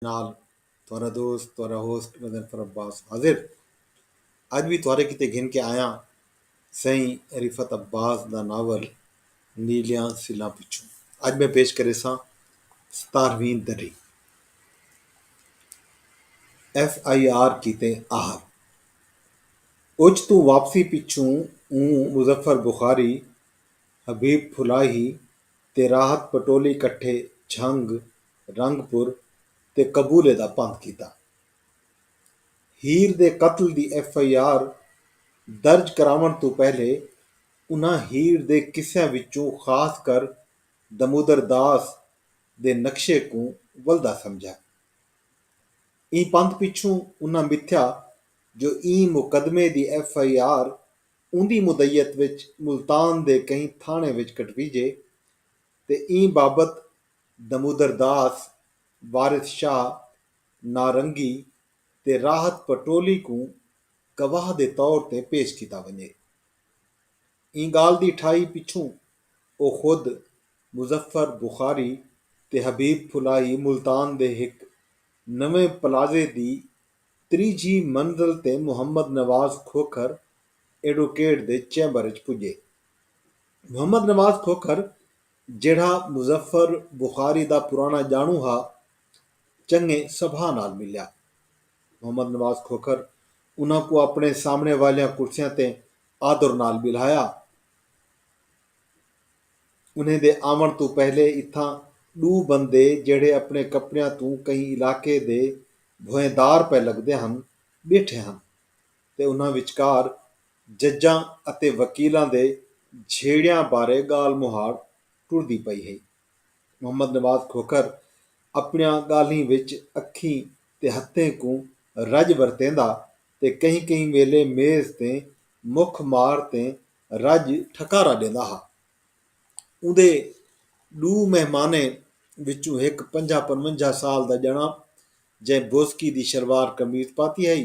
نال تہاڈا دوست تہاڈا ہوسٹ میں ظفر عباس حاضر اج وی تہاڈے کیتے گھن کے آیاں سئیں رفعت عباس دا ناول نیلیاں سلاں پچھوں اج میں پیش کریساں ستارہویں دری ایف آئی آر کیتے آہر اچ توں واپسی پچھوں اوں مظفر بخاری حبیب پھلاہی تے راحت پٹولی کٹھے جھنگ رنگ پور تے قبولے دا پندھ کیتا۔ ہیر دے قتل دی ایف آئی آر درج کراونڑ توں پہلے انہاں ہیر دے قصیاں وچوں خاص کر دمودر داس دے نقشے کوں ولدا سمجھا۔ ایں پندھ پچھوں انہاں متھیا جو ایں مقدمے دی ایف آئی آر اوندی مدعیت وچ ملتان دے کہیں تھانڑے وچ کٹویجے تے ایں بابت دمودر داس، وارث شاہ، نارنگی تے راحت پٹولی کوں گواہ دے طور تے پیش کیتا ونڄے۔ ایں ڳالھ دی ٹھائی پچھوں او خود مظفر بخاری تے حبیب پھلائی ملتان دے ہک نویں پلازے دی تریجھی منزل تے محمد نواز کھوکھر ایڈوکیٹ دے چیمبر اچ پڄے۔ محمد نواز کھوکھر جیڑھا مظفر بخاری دا پراݨا ڄاݨوں ہا، چنڳے سبھا نال ملیا۔ محمد نواز کھوکھر انہاں کوں اپݨے سامݨے والیاں کرسیاں تے آدر نال ٻلہایا۔ انہیں دے آوݨ توں پہلے اتھاں ݙو بندے جیڑھے اپݨے کپڑیاں توں کہیں علاقے دے بھوئیں دار پئے لڳدے ہن، ٻیٹھے ہن تے انہاں وچکار ججاں اتے وکیلاں دے جھیڑیاں بارے ڳالھ مہاڑ ٹردی پئی ہئی۔ محمد نواز کھوکھر اپݨیاں ڳالھیں وچ اکھیں تے ہتھیں کوں رڄ ورتیندا تے کہیں کہیں ویلھے میز تے مکھ مار تے رڄ ٹھکارا ݙیندا ہا۔ اوندے ݙو مہمانیں وچوں ہک پنجاہ پنونجاہ سال دا ڄݨاں جئیں بوزکی دی شلوار قمیض پاتی ہئی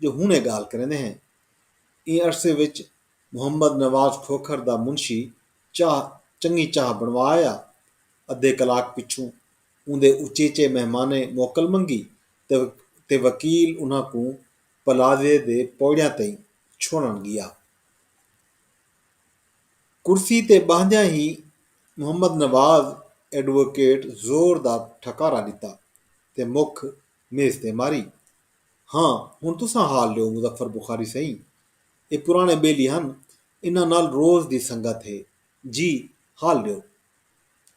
جو ہن اے گالھ کریندے ہیں۔ ایں عرصے وچ محمد نواز کھوکھر دا منشی چاہ چنگی چاہ بنڑوا آیا۔ ادھے کلاک پچھوں اوندے اچیچے مہمانیں موکل منگی تے وکیل انہاں کوں پلازے دے پوڑیاں تئیں چھوڑن گیا۔ کرسی تے باہندیاں ہی محمد نواز ایڈووکیٹ زور دا ٹھکارا ڈتا تے مکھ میز تے ماری۔ ہاں ہݨ تساں حال ݙیو مظفر بخاری سئیں۔ اے پراݨے ٻیلی ہن انہاں نال روز دی سنگت ہے جی حال ݙیو۔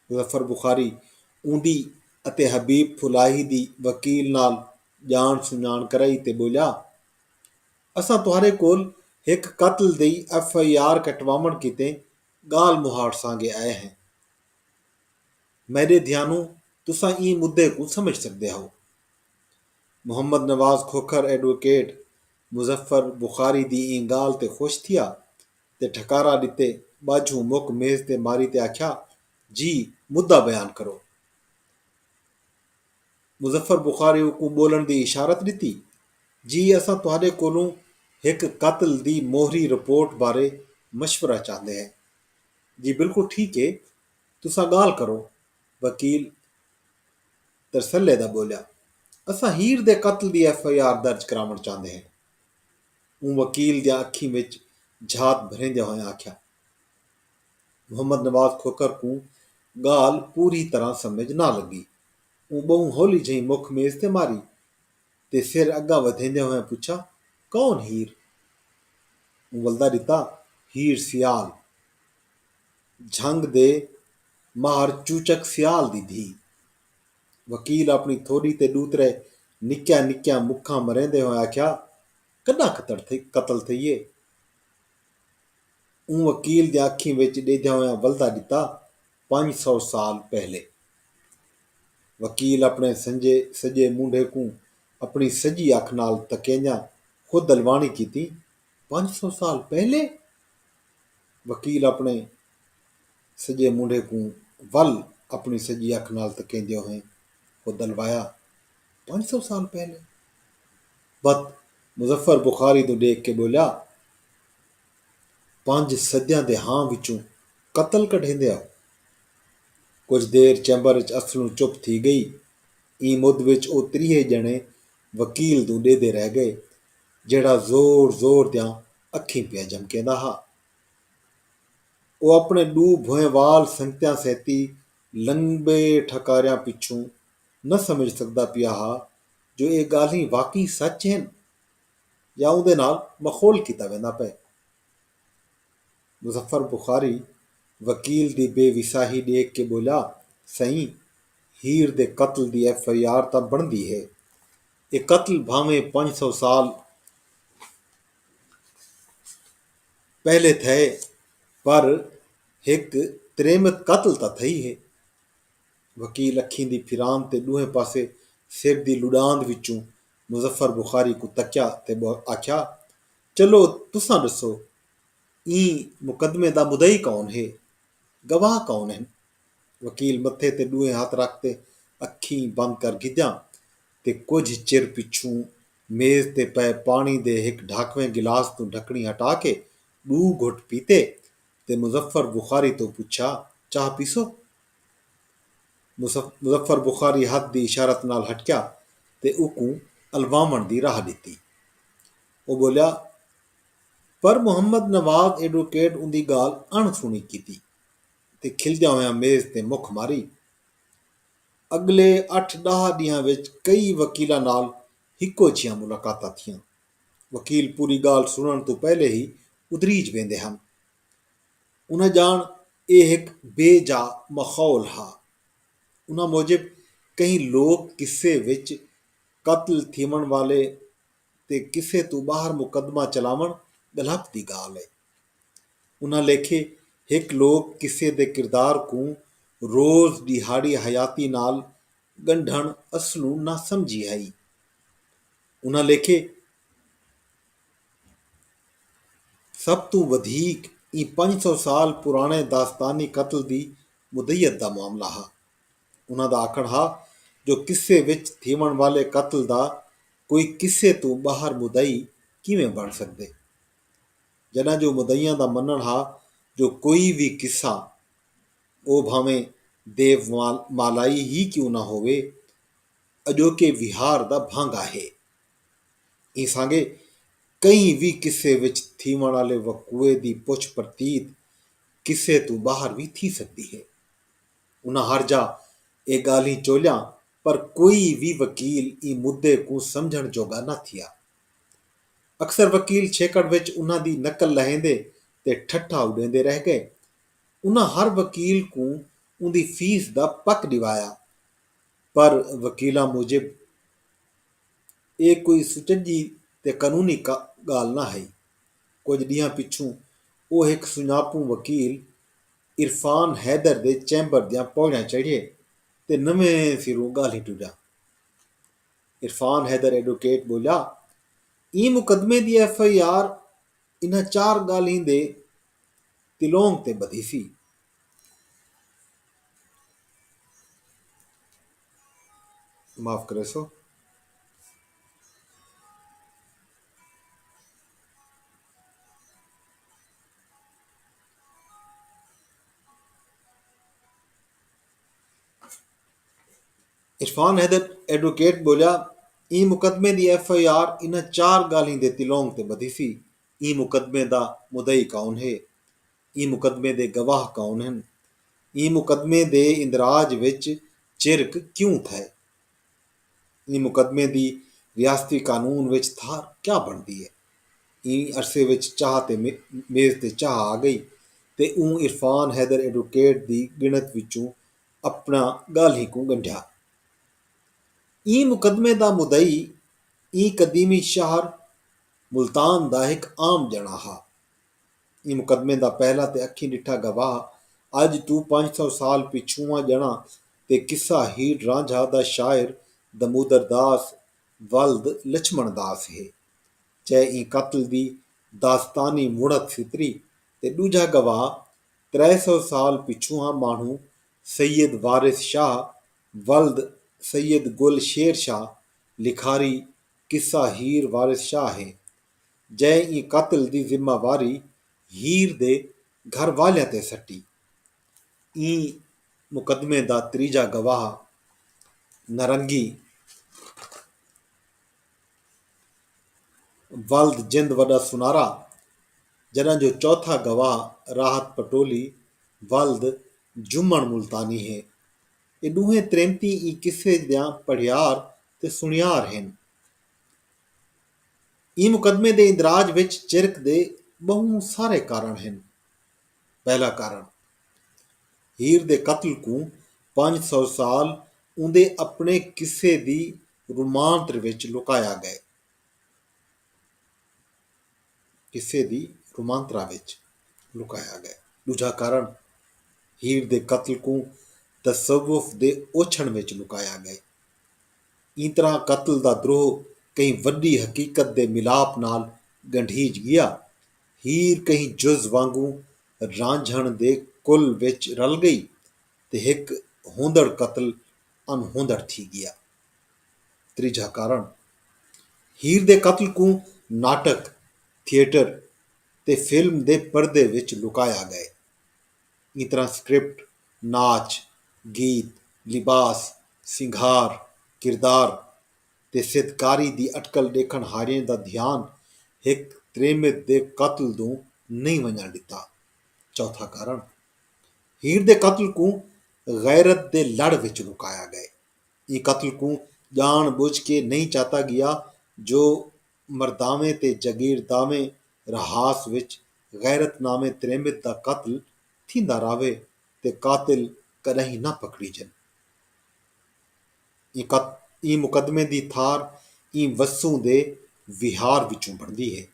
مظفر بخاری اوندی اتے حبیب پھلاہی دی وکیل نال ڄاݨ سنڄاݨ کرائی تے ٻولیا اساں تہاݙے کول ہک قتل دی ایف آئی آر کٹواوݨ کیتے ڳالھ مہاڑسانگے آئے ہیں۔ میݙے دھیانوں تساں ایں مدعے کوں سمجھ سڳدے ہاؤ۔ محمد نواز کھوکھر ایڈووکیٹ مظفر بخاری دی ایں ڳالھ تے خوش تھیا تے ٹھکارا ݙتے ٻاجھوں مک میز تے ماری تے آکھیا جی مدعا بیان کرو۔ مظفر بخاری اوکوں ٻولݨ دی اشارت ݙتی جی اساں تہاݙے کولوں ہک قتل دی موہری رپورٹ بارے مشورہ چاہندے ہیں۔ جی بالکل ٹھیک اے تساں گالھ کرو وکیل ترسلے دا بولیا اساں ہیر دے قتل دی ایف آئی آر درج کراونڑ چاہندے ہیں اوں وکیل دیاں اکھیں وچ جھات بھریندیاں ہوئیں آکھیا محمد نواز کھوکھر کوں گالھ پوری طرح سمجھ نہ لگی اوں بہوں ہولی جھئیں مکھ میز تے ماری تے فیر اگا ودھیندے ہوئیں پچھا کون ہیر؟ اوں ولدا ڈتا ہیر سیال جھنگ دے ماہر چوچک سیال دی دھی۔ وکیل اپنی تھوڈی تے ڈو ترے نکیاں نکیاں مکھاں مریندے ہوئیں آکھیا کڈاں قتل تھئیے؟ اوں وکیل دیاں اکھیں وچ ڈیدھیاں ہوئیں ولدا ڈتا پنج سو سال پہلے۔ وکیل اپݨے سنجے سڄے مونڈھے کوں اپݨی سڄی اکھ نال تکیندیاں خود الواݨی کیتی، پنج سو سال پہلے؟ وکیل اپݨے سڄے مونڈھے کوں ول اپݨی سڄی اکھ نال تکیندے ہوئیں خود الوایا، پنج سو سال پہلے؟ بت مظفر بخاری توں ݙیکھ کے ٻولیا، پنج صدیاں دے ہاں وچوں قتل کڈھیندے ہو؟ کجھ دیر چیمبر اچ اصلوں چپ تھی گئی۔ ایں مدھ وچ او تریہے ڄݨے وکیل توں ݙیہدے رہ ڳئے جیڑھا زور زور دیاں اکھیں پیا جھمکیندا ہا۔ او اپݨے ݙو بھوئیں وال سنگتیاں سیتی لنبے ٹھکاریاں پچھوں نہ سمجھ سڳدا پیا ہا جو اے ڳالھیں واقعی سچ ہن یا اوندے نال مخول کیتا ویندا پئے۔ مظفر بخاری وکیل دی بے وساہی ݙیکھ کے ٻولیا سئیں ہیر دے قتل دی ایف آئی آر تاں بݨدی ہے اے قتل بھانویں پنج سو سال پہلے تھئے پر ہک تریمت قتل تاں تھئی ہے وکیل اکھیں دی پھران تے ݙوہیں پاسے سر دی لݙاند وچوں مظفر بخاری کوں تکیا تے آکھیا چلو تساں ݙسو ایں مقدمے دا مدعی کون ہے؟ گواہ کون ہن؟ وکیل متھے تے ݙوہیں ہتھ رکھ تے اکھیں بند کر گھدیاں تے کجھ چر پچھوں میز تے پئے پاݨی دے ہک ڈھاکویں گلاس توں ڈھکݨی ہٹا کے ݙو گھٹ پیتے تے مظفر بخاری توں پچھا چاہ پیسو؟ مظفر بخاری ہتھ دی اشارت نال ہٹکیا تے اوکوں الواوݨ دی راہ ݙتی۔ او ٻولیا۔ پر محمد نواز ایڈووکیٹ اوندی ڳالھ اݨ سݨی کیتی تے کھلدیاں ہویاں میز تے مکھ ماری۔ اڳلے اٹھ ݙاہ ݙینہاں وچ کئی وکیلاں نال ہکو جھیاں ملاقاتاں تھیاں۔ وکیل پوری ڳالھ سݨݨ توں پہلے ہی ادریج ویندے ہن۔ انہاں ڄاݨ ایہ ہک بے جا ماحول ہا۔ انہاں موجب کہیں لوک قصے وچ قتل تھیوݨ والے، تے کسے توں ٻاہر مقدمہ چلاوݨ ڳلھپ دی ڳالھ اے۔ انہاں لیکھے ہک لوک قصے دے کردار کوں روز ݙیہاڑی حیاتی نال ڳنڈھݨ اصلوں ناسمجھی ہئی۔ انہاں لیکھے سب توں ودھیک ایں پنج سو سال پراݨے داستانی قتل دی مدعیت دا معاملہ ہا۔ انہاں دا آکھݨ ہا جو قصے وچ تھیوݨ والے قتل دا کوئی قصے توں ٻاہر مدعی کیویں بݨ سڳدے جݙاں جو مدعیاں دا منݨ ہا جو کوئی وی قصہ او بھانویں دیومالائی ہی کیوں نہ ہووے اڄوکے وہار دا بھانگا ہے۔ ایں سانگے کہیں وی قصے وچ تھیوݨ آلے وقوعے دی پچھ پرتیت قصے توں ٻاہر وی تھی سڳدی ہے۔ انہاں ہرجا اے ڳالھیں چولیاں پر کوئی وی وکیل ایں مدعے کوں سمجھݨ جوڳا نہ تھیا۔ اکثر وکیل چھیکڑ وچ انہاں دی نقل لہیندے تے ٹھٹھا اݙیندے رہ ڳئے۔ انہاں ہر وکیل کوں اوندی فیس دا پک ݙیوایا پر وکیلاں موجب اے کوئی سچڄی تے قانونی ڳالھ نہ ہئی۔ کجھ ݙینہاں پچھوں او ہک سنڄاپوں وکیل عرفان حیدر دے چیمبر دیاں پوڑیاں چڑھیے تے نویں سروں ڳالھیں ٹریا۔ عرفان حیدر ایڈوکیٹ ٻولیا، ایں مقدمے دی ایف آئی آر انہاں چار ڳالھیں دے تلونگ تے ٻدھیسی۔ معاف کریسو۔ عرفان حیدر ایڈووکیٹ ٻولیا ایں مقدمے دی ایف آئی آر انہاں چار ڳالھیں دے تلونگ تے ٻدھیسی، ایں مقدمے دا مدعی کون ہے؟ ایں مقدمے دے گواہ کون ہن؟ ایں مقدمے دے اندراج وچ چرک کیوں تھئے؟ ایں مقدمے دی ریاستی قانون وچ تھاں کیا بݨدی اے؟ ایں عرصے وچ چاہ تے میز تے چاہ آ ڳئی تے اوں عرفان حیدر ایڈووکیٹ دی ڳݨت وچوں اپݨاں ڳالھیں کوں ڳنڈھیا۔ ایں مقدمے دا مدعی ایں قدیمی شہر ملتان دا ہک عام ڄݨاں ہا۔ ایں مقدمے دا پہلا تے اکھیں ݙٹھا گواہ اڄ توں پنج سو سال پچھوواں ڄݨاں تے قصہ ہیڑ رانجھا دا شاعر دمودر داس ولد لچھمݨ داس ہے۔ چہ ایں قتل دی داستانی مڑھت ستری تے ݙوجھا گواہ ترے سو سال پچھوواں ماݨھوں سید وارث شاہ ولد سید گل شیر شاہ لکھاری قصہ ہیڑ وارث شاہ ہے۔ جئے ایں قتل دی ذمہ واری ہیر دے گھر والیاں تے سٹی۔ ایں مقدمے دا تریجھا گواہ نرنگی ولد جند وݙا سنارا جݙاں جو چوتھا گواہ راحت پٹولی ولد جھمݨ ملتانی ہے۔ اے ݙوہیں تریمتی ایں قصے دیاں پڑھیار تے سݨیار ہن۔ ایں مقدمے دے اندراج وچ چرک دے ٻہوں سارے کارݨ ہن۔ پہلا کارݨ ہیر دے قتل کوں پنج سو سال اوندے اپݨے قصے دی رومانت وچ لکایا ڳئے۔ ݙوجھا کارݨ ہیر دے قتل کوں تصوف دے اوچھݨ وچ لکایا ڳئے۔ ایں طرح قتل دا دروہ کہیں وݙی حقیقت دے ملاپ نال ڳنڈھیج ڳیا۔ ہیر کہیں جز وانگوں رانجھݨ دے کل وچ رل ڳئی تے ہک ہوندڑ قتل انہوندڑ تھی ڳیا۔ تریجھا کارݨ ہیر دے قتل کوں ناٹک، تھیٹر تے فلم دے پردے وچ لکایا ڳئے۔ ایں طرح سکرپٹ، ناچ، گیت، لباس، سنگھار، کردار تے سیدکاری دی اٹکل ڈیکھن ہاریاں دا دھیان ہک تریمت دے قتل دوں نئیں ونجنڑ ڈتا۔ چوتھا کارنڑ ہیر دے قتل کوں غیرت دے لڑ وچ لکایا گئے۔ ایں قتل کوں جانڑ بجھ کے نئیں چاتا گیا جو مرداویں تے جگیرداویں رہاس وچ غیرت ناویں تریمت دا قتل تھیندا راہوے تے قاتل کݙاہیں نہ پکڑیجن۔ ایں مقدمے دی تھار ایں وسوں دے وہار وچوں بݨدی ہے۔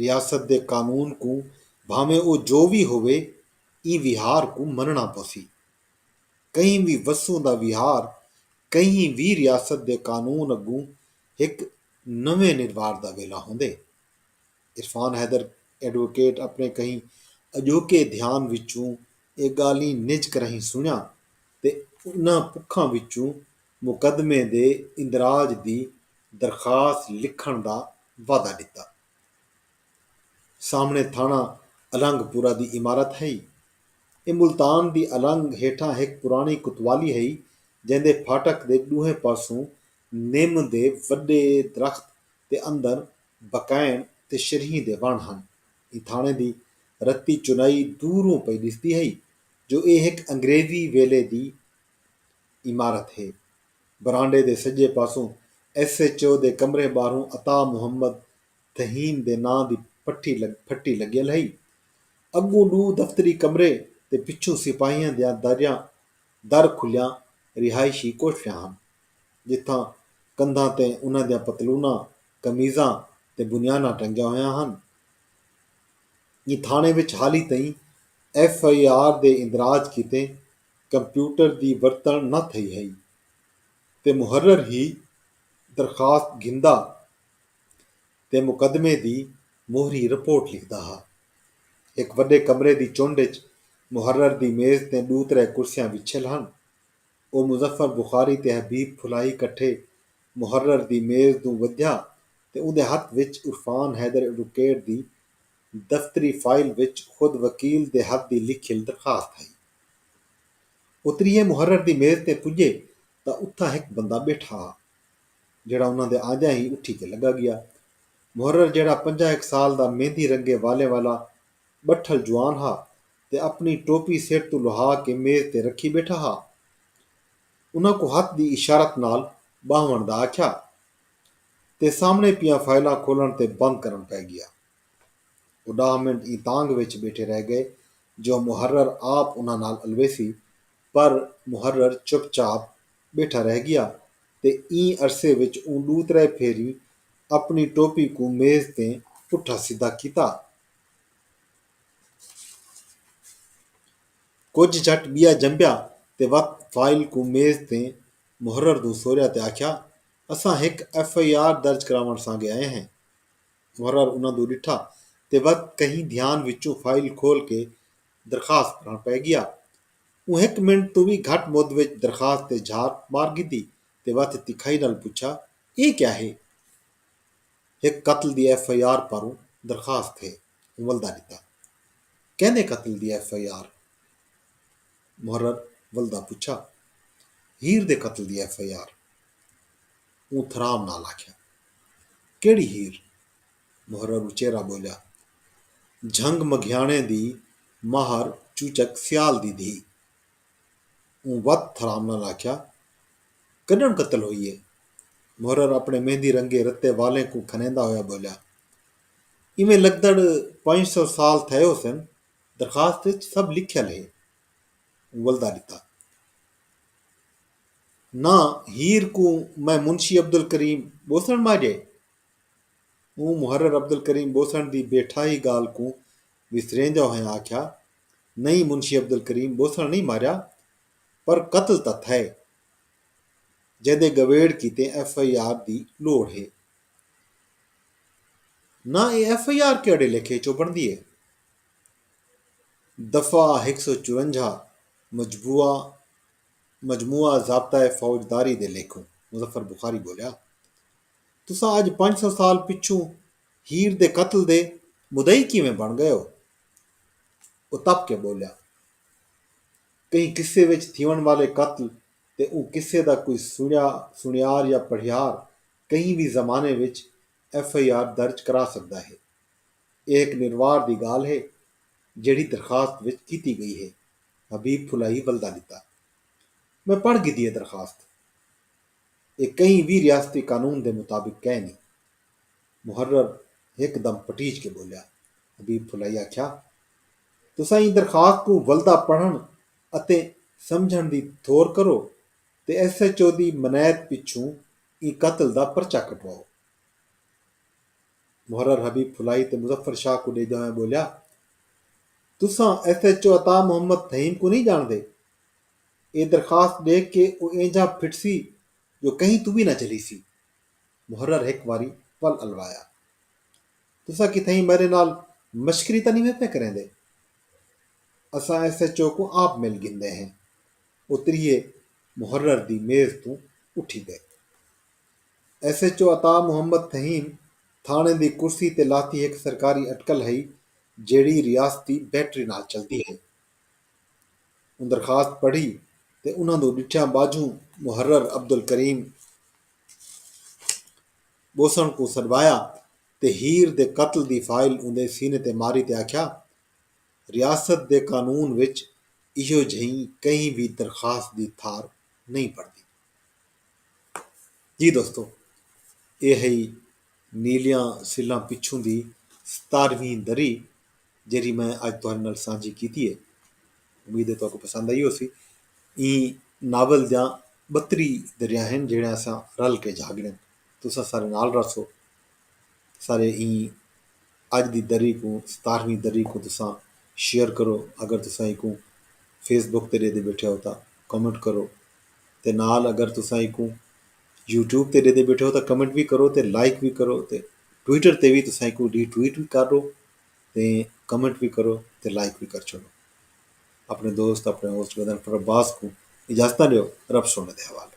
ریاست دے قانون کوں بھانویں او جو وی ہووے ایں وہار کوں منݨا پوسی۔ کہیں وی وسوں دا وہار کہیں وی ریاست دے قانون اڳوں ہک نویں نروار دا ویلا ہوندے۔ عرفان حیدر ایڈووکیٹ اپݨے کہیں اڄوکے دھیان وچوں اے ڳالھیں نج کراہیں سݨیاں تے انہاں پکھاں وچوں مقدمے دے اندراج دی درخواست لکھݨ دا وعدہ ݙتا۔ سامݨے تھاݨہ النگ پورہ دی عمارت ہئی۔ اے ملتان دی النگ ہیٹھاں ہک پراݨی کوتوالی ہئی جیندے پھاٹک دے ݙوہیں پاسوں نم دے وݙے درخت تے اندر بکائن تے شریہیں دے وݨ ہن۔ ایندھاݨے دی رتی چنائی دوروں پئی ݙسدی ہئی جو ایہ ہک انگریزی ویلے دی عمارت ہے۔ برانڈے دے سڄے پاسوں ایس ایچ او دے کمرے ٻاہروں عطا محمد تھہیم دے ناں دی پھٹی لڳیل ہئی۔ اڳوں ݙو دفتری کمرے تے پچھوں سپاہیاں دیاں دریاں در کھلیاں رہائشی کوٹھڑیاں ہن جتھاں کندھاں تے انہاں دیاں پتلوناں، قمیضاں تے بنیاناں ٹنگیاں ہویاں ہن۔ ایں تھاݨے وچ حالی تئیں ایف آئی آر دے اندراج کیتے کمپیوٹر دی ورتݨ نہ تھئی ہئی تے محرر ہی درخواست گھندا تے مقدمے دی موہری رپورٹ لکھدا ہا۔ ہک وݙے کمرے دی چنڈ اچ محرر دی میز تیں ݙو ترے کرسیاں وچھیل ہن۔ او مظفر بخاری تے حبیب پھلائی کٹھے محرر دی میز دوں ودھیا تے اوندے ہتھ وچ عرفان حیدر ایڈوکیٹ دی دفتری فائل وچ خود وکیل دے ہتھ دی لکھیل درخواست ہئی۔ او تریہے محرر دی میز تے پجے تاں اتھاں ہک بندہ بیٹھا ہا جیہڑا انہاں دے آندیاں ہی اٹھی تے لگا گیا۔ محرر جیہڑا پنجاں ہک سال دا مہندی رنگے والیں والا بٹھل جوان ہا تے اپݨی ٹوپی سر توں لہا کے میز تے رکھی ٻیٹھا ہا۔ انہاں کوں ہتھ دی اشارت نال ٻاہوݨ دا آکھیا تے سامݨے پیاں فائلاں کھولݨ تے بند کرݨ پئے ڳیا۔ او ݙاہ منٹ ایں تانگھ وچ ٻیٹھے رہ ڳئے جو محرر آپ انہاں نال الویسی پر محرر چپ چاپ ٻیٹھا رہ ڳیا تے ایں عرصے وچ اوں ݙو ترے پھیریں اپݨی ٹوپی کوں میز تیں پٹھا سدھا کیتا۔ کجھ جھٹ ٻیا جنبیا تے وت فائل کوں میز تیں محرر دوں سوریا تے آکھیا اساں ہک ایف آئی آر درج کراوݨ سانگے آئے ہیں۔ محرر انہاں دوں ݙٹھا تے وت کہیں دھیان وچوں فائل کھول کے درخواست پڑھݨ پئے ڳیا۔ اوں ہک منٹ توں وی گھٹ مد وچ درخواست تے جھات مار ڳھدی تے وت تکھائی نال پچھا ایہ کیا ہے؟ ہک قتل دی ایف آئی آر پاروں درخواست ہے۔ ولدا ݙتا۔ کیندے قتل دی ایف آئی آر؟ محرر ولدا پچھا۔ ہیر دے قتل دی ایف آئی آر۔ اوں تھرام نال آکھیا۔ کیڑھی ہیر؟ محرر اچیرا ٻولیا۔ جھنگ مگھیاݨے دی ماہر چوچک سیال دی دھی۔ اوں وت تھرام نال آکھیا۔ کݙݨ قتل ہوئی اے؟ محرر اپݨے مہندی رنگے رتے والیں کوں کھنیندا ہویا ٻولیا۔ ایویں لگدڑ پنج سو سال تھئے ہوسن، درخواست اچ سب لکھیل ہے۔ ولدا ݙتا۔ ناں ہیر کوں میں منشی عبدالکریم ٻوسݨ ماجھے؟ اوں محرر عبدالکریم ٻوسݨ دی بے ٹھاہی ڳالھ کوں وسریندیں ہوئیں آکھیا، نئیں منشی عبدالکریم ٻوسݨ نئیں ماریا، پر قتل تاں تھئے، جیندے ڳویڑ کیتے ایف آئی آر دی لوڑھ ہے۔ نہ اے ایف آئی آر کیہڑے لیکھے اچوں بنڑدی اے۔ دفعہ ہک سو چورنجا مجبوعہ مجموعہ ضابطہ فوج داری دے لیکھوں، مظفر بخاری بولیا۔ تساں اج پنج سو سال پچھوں ہیر دے قتل دے مدعی کیویں بن گئے او؟ او تپ کے بولیا۔ کہیں قصے وچ تھیونڑ والے قتل تے اوں قصے دا کوئی سنڑیا سنڑیار یا پڑھیار کہیں وی زمانے وچ ایف آئی آر درج کرا سگدا ہے۔ اے ہک نروار دی گالھ ہے جیڑھی درخواست وچ کیتی گئی ہے، حبیب پھلائی ولدا ݙتا۔ میں پڑھ گھدی اے درخواست۔ اے کہیں وی ریاستی قانون دے مطابق کائنی۔ محرر ہک دم پٹیج کے ٻولیا۔ حبیب پھلائی آکھیا، تساں ایں درخواست کوں ولدا پڑھݨ اتے سمجھݨ دی تھور کرو تے ایف ایچ او دی منعیت پچھوں ایں قتل دا پرچہ کٹواؤ۔ محرر حبیب پھلائی تے مظفر شاہ کوں ݙیہدے ہوئیں ٻولیا تساں F H O Ata Muhammad Thaheem کوں نھیں ڄاݨدے؟ اے درخواست ݙیکھ کے او اینجھاں پھٹسی جو کہیں توں وی نہ جھلیسی۔ محرر ہک واری ول الوایا۔ تساں کتھائیں میݙے نال مشکری تاں نھیں وے پئے کریندے؟ اساں ایف ایچ او کوں آپ مل گھندے ہیں۔ او تریہے محرر دی میز توں اٹھی ڳئے۔ S H O Ata Muhammad Thaheem تھاݨے دی کرسی تے لہتی ہک سرکاری اٹکل ہئی جیڑھی ریاستی بیٹری نال چلدی ہئی۔ اوں درخواست پڑھی تے انہاں دو ݙٹھیاں ٻاجھوں محرر عبدالکریم ٻوسݨ کوں سݙوایا تے ہیر دے قتل دی فائل اوندے سینے تے ماری تے آکھیا، ریاست دے قانون وچ ایہو جھئیں کہیں وی درخواست دی تھار نئیں پڑدی۔ جی دوستو اے ہئی نیلیاں سلاں پچھوں دی ستارہویں دری جیڑھی میں اج تہاڈے نال سانجھی کیتی ہے۔ امید ہے تہاکوں پسند آئی ہوسی۔ ایں ناول دیاں بتری دریاں ہن جیڑھیاں اساں رل کے جھاگڑیں۔ تساں سارے نال رہسو۔ سارے ایں اڄ دی دری کوں ستارہویں دری کوں تساں شیئر کرو اگر تساں ایکوں فیس بک تے ݙیندے ٻیٹھے ہو تاں کمنٹ کرو تے نال اگر تساں ایکوں یوٹیوب تے ݙیندے ٻیٹھے ہو تاں کمنٹ وی کرو تے لائک وی کرو تے ٹویٹر تے وی تساں ایکوں ری ٹویٹ وی کر ݙو تے کمنٹ وی کرو تے لائک وی کر چھوڑو اپنے دوست اپنے ہوسٹ گدن پر عباس کوں اجازتاں ݙیو رب سونے دے حوالے